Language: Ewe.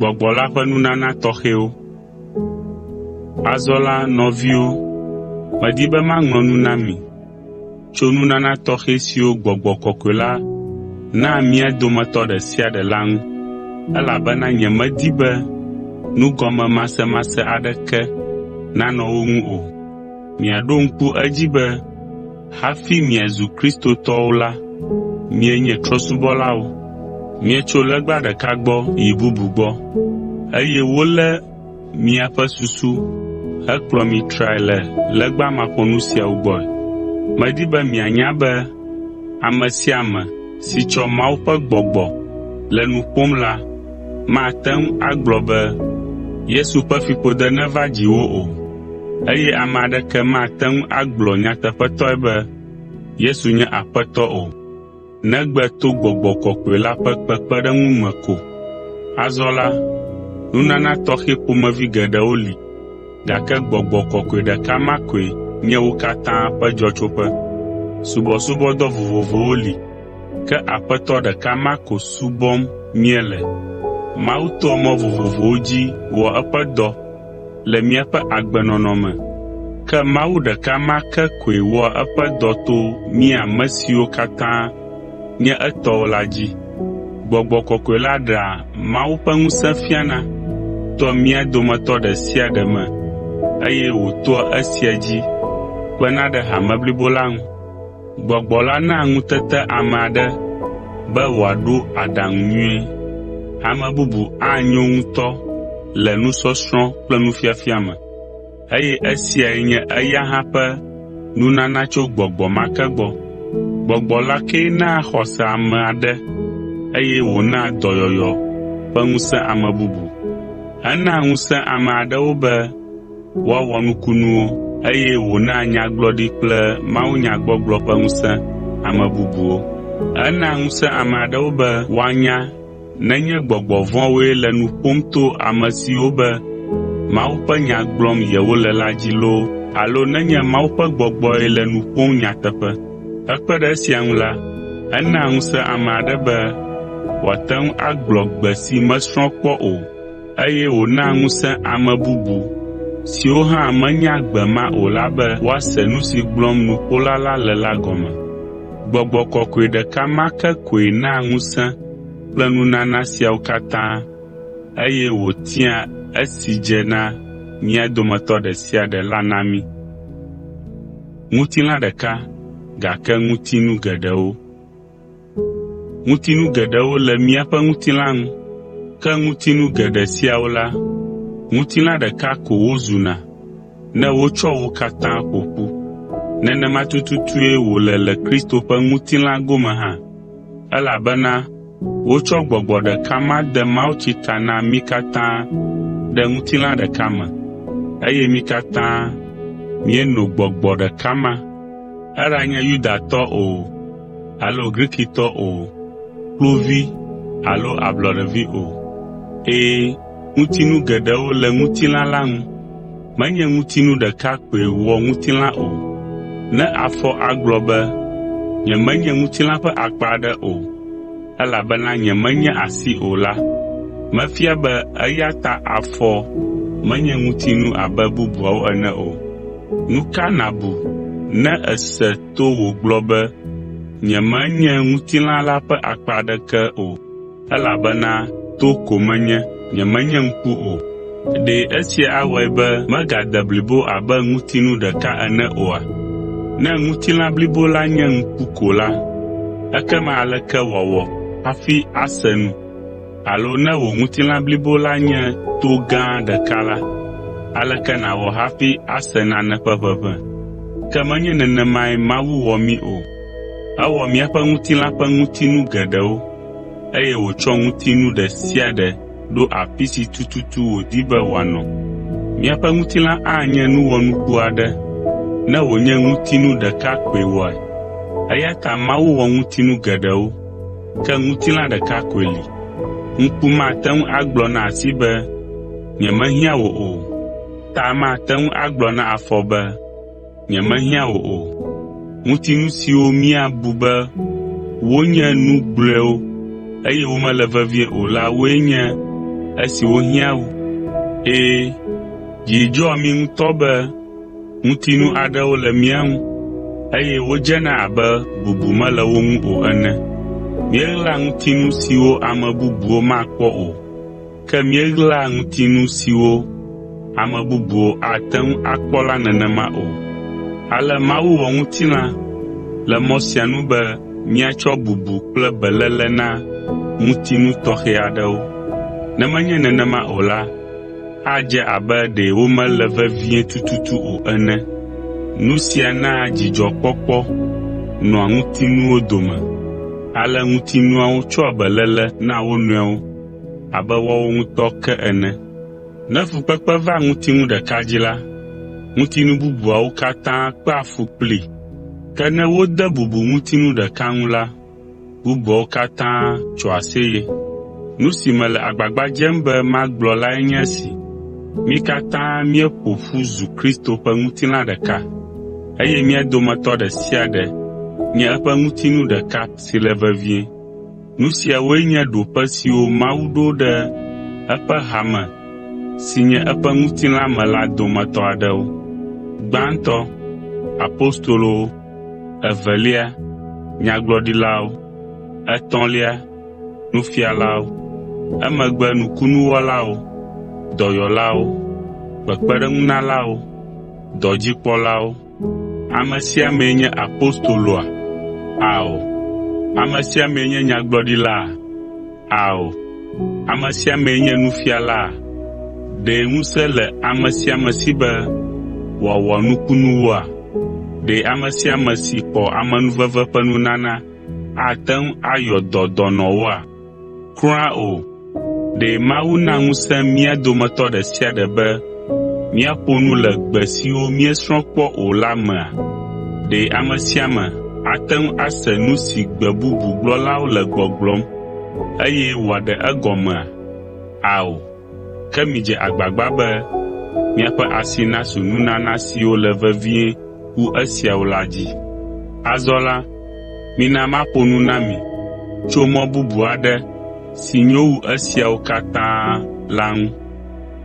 Gbɔgbɔ la ƒe nunana tɔxɛwo Azɔ la, nɔviwo, medi be maŋlɔ nu na mi, tso nunana tɔxɛ siwo gbɔgbɔ kɔkɔe la naa mía dometɔ ɖe sia ɖe la ŋu, elabena nyemedi be nugɔmemasemase aɖeke nanɔ wo ŋu o. Miaɖo ŋku edzi be hafi miazu Kristotɔwo la, mienye trɔ̃subɔlawo. Mietso legba ɖeka gbɔ yi bubu gbɔ, eye wolé Miaƒe susu hekplɔ mi trae le legba maƒonu siawo gbɔe. Medi be mianya be ame sia ame si tsɔ Mawu ƒe gbɔgbɔ le nu ƒom la mate ŋu agblɔ be, “Yesu ƒe fiƒode neva dziwò” o. Eye ame aɖeke mate ŋu agblɔ nyateƒetɔe be, “Yesu nye Aƒetɔ” o. negbe to Gbɔgbɔ Kɔkɔe la ƒe kpekpeɖeŋu me ko. Azɔ la, nunana tɔxɛ ƒomevi geɖewo li, gake Gbɔgbɔ Kɔkɔe ɖeka ma koe nye wo katã ƒe dzɔtsoƒe. Subɔsubɔdɔ vovovowo li, ke Aƒetɔ ɖeka ma ko subɔm míele. Mawu toa mɔ vovovowo dzi wɔ eƒe dɔ, le míaƒe agbenɔnɔ me. Ke Mawu ɖeka ma ke koe wɔa eƒe dɔ to mí ame siwo katã nye etɔwo la dzi. Gbɔgbɔ kɔkɔe la ɖea Mawu ƒe ŋusẽ fiana toa mía dometɔ ɖe sia ɖe me eye wòtoa esia dzi kpena ɖe hame blibo la ŋu. Gbɔgbɔ la naa ŋutete ame aɖe be wòaɖo aɖaŋu nyuie. Ame bubu anyo ŋutɔ le nusɔsrɔ̃ kple nufiafia me, eye esiae nye eya hã ƒe nunana tso gbɔgbɔ ma ke gbɔ. Gbɔgbɔ la kee naa xɔse ame aɖe eye wònaa dɔyɔyɔ ƒe ŋusẽ ame bubu. Enaa ŋusẽ ame aɖewo be woawɔ nukunuwo, eye wònaa nyagblɔɖi kple mawunyagbɔgblɔ ƒe ŋusẽ ame bubuwo. Enaa ŋusẽ ame aɖewo be woanya nenye gbɔgbɔ vɔ̃woe le nu ƒom to amesiwo be Mawu ƒe nya gblɔm yewole la dzi loo alo nenye Mawu ƒe gbɔgbɔe le nu ƒom nyateƒe. Hekpe ɖe esia ŋu la, enaa ŋusẽ ame aɖe be wòate ŋu agblɔ gbe si mesrɔ̃ kpɔ o. eye wònaa ŋusẽ ame bubu siwo hã menya gbe ma o la be woase nu si gblɔm nuƒola la le la gɔme. Gbɔgbɔ kɔkɔe ɖeka ma ke koe naa ŋusẽ kple nunana siawo katã eye wòtiaa esi dze na mía dometɔ ɖe sia ɖe la na mí. Ŋutilã ɖeka, gake ŋutinu geɖewo. Ŋutinu geɖewo le míaƒe ŋutilã ŋu, ke ŋutinu geɖe siawo la, ŋutilã ɖeka ko wozuna ne wotsɔ wo katã ƒo ƒu. Nenema tututue wòle le Kristo ƒe ŋutilã gome hã, elabena wotsɔ gbɔgbɔ ɖeka ma de mawutsi ta na mí katã ɖe ŋutilã ɖeka me, eye mí katã míeno gbɔgbɔ ɖeka ma. Eɖanye Yudatɔ o, alo Grikitɔ o, kluvi alo ablɔɖevi o. Ɛ̃, ŋutinu geɖewo le ŋutilã la ŋu. Menye ŋutinu ɖeka koe wɔ ŋutilã o. Ne afɔ agblɔ be, “Nyemenye ŋutilã ƒe akpa aɖe o, elabena nyemenye asi o” la, mefia be eya ta afɔ menye ŋutinu abe bubuawo ene o. Nu ka nàbu ne èse to wògblɔ be, “Nyemenye ŋutilã la ƒe akpa aɖeke o, elabena to ko menye, nyemenye ŋku o.” Ɖe esia awɔe be megade blibo abe ŋutinu ɖeka ene oa? Ne ŋutilã blibo la nye ŋku ko la, ekema aleke wòawɔ hafi ase nu? Alo ne wò ŋutilã blibo la nye to gã ɖeka la, aleke nàwɔ hafi ase nane ƒe ʋeʋẽ? Ke menye nenemae Mawu wɔ mí o. Ewɔ míaƒe ŋutilã ƒe ŋutinu geɖewo, eye wòtsɔ ŋutinu ɖe sia ɖe ɖo afi si tututu wòdi be wòanɔ. Míaƒe ŋutilã anye nu wɔnuku aɖe ne wònye ŋutinu ɖeka koe wɔe. Eya ta Mawu wɔ ŋutinu geɖewo. Ke ŋutilã ɖeka koe li. Ŋku mate ŋu agblɔ na asi be, “Nyemehiã wò o,” ta mate ŋu agblɔ na afɔ be, “Nyemehiã wò o.” Ŋutinu siwo míabu be wonye nu gblɔewo eye womele vevie o la woe nye esiwo hiã wu. Ɛ̃, dzi dzɔa mí ŋutɔ be Ŋutinu aɖewo le mía ŋu, eye wodzena abe bubu mele wo ŋu o ene. Míeɣlaa ŋutinu siwo ame bubuwo makpɔ o, ke míeɣlaa ŋutinu siwo ame bubuwo ate ŋu akpɔ la nenema o. Ale Mawu wɔ ŋutilã le mɔ sia nu be míatsɔ bubu kple beléle na ŋutinu tɔxɛ aɖewo. Ne menye nenema o la, Adze abe ɖe womele vevie tututu o ene. Nu sia naa dzidzɔkpɔkpɔ nɔa ŋutinuwo dome, ale ŋutinuawo tsɔa beléle na wo nɔewo abe woawo ŋutɔ ke ene. Ne fukpekpe va ŋutinu ɖeka dzi la, ŋutinu bubuawo katã kpea fu kplii. Ke ne wode bubu ŋutinu ɖeka ŋu la, bubuawo katã tso aseye. Nu si mele agbagba dzem be magblɔ lae nye esi: Mí katã míeƒo ƒu zu Kristo ƒe ŋutilã ɖeka, eye mía dometɔ ɖe sia ɖe nye eƒe ŋutinu ɖeka si le vevie. Nu siawoe nye ɖoƒe siwo Mawu ɖo ɖe eƒe hame si nye eƒe ŋutilã me la dometɔ aɖewo. Gbãtɔ, apostolowo, evelia, nyagblɔɖilawo, etɔ̃lia, nufialawo, emegbe nukunuwɔlawo, dɔyɔlawo, kpekpeɖeŋunalawo, dɔdzikpɔlawo. Ame sia amee nye apostoloa? Ao, ame sia amee nye nyagblɔɖilaa? Ao, ame sia amee nye nufialaa? Ɖe ŋusẽ le ame sia ame si be wòawɔ nukunuwoa? Ɖe ame sia ame si xɔ amenuveve ƒe nunana ate ŋu ayɔ dɔ dɔnɔwoa? Kura o! Ɖe Mawu na ŋusẽ mía dometɔ ɖe sia ɖe be Míaƒo nu le gbe siwo míesrɔ̃ kpɔ o la mea? Ɖe ame sia ame ate ŋu ase nu si gbe bubu gblɔlawo le gbɔgblɔm eye wòaɖe egɔmea? Ao, ke midze agbagba be miaƒe asi nasu nunana siwo le vevie wu esiawo la dzi. Azɔ la, mina maƒo nu na mi tso mɔ bubu aɖe si nyo wu esiawo katã la ŋu.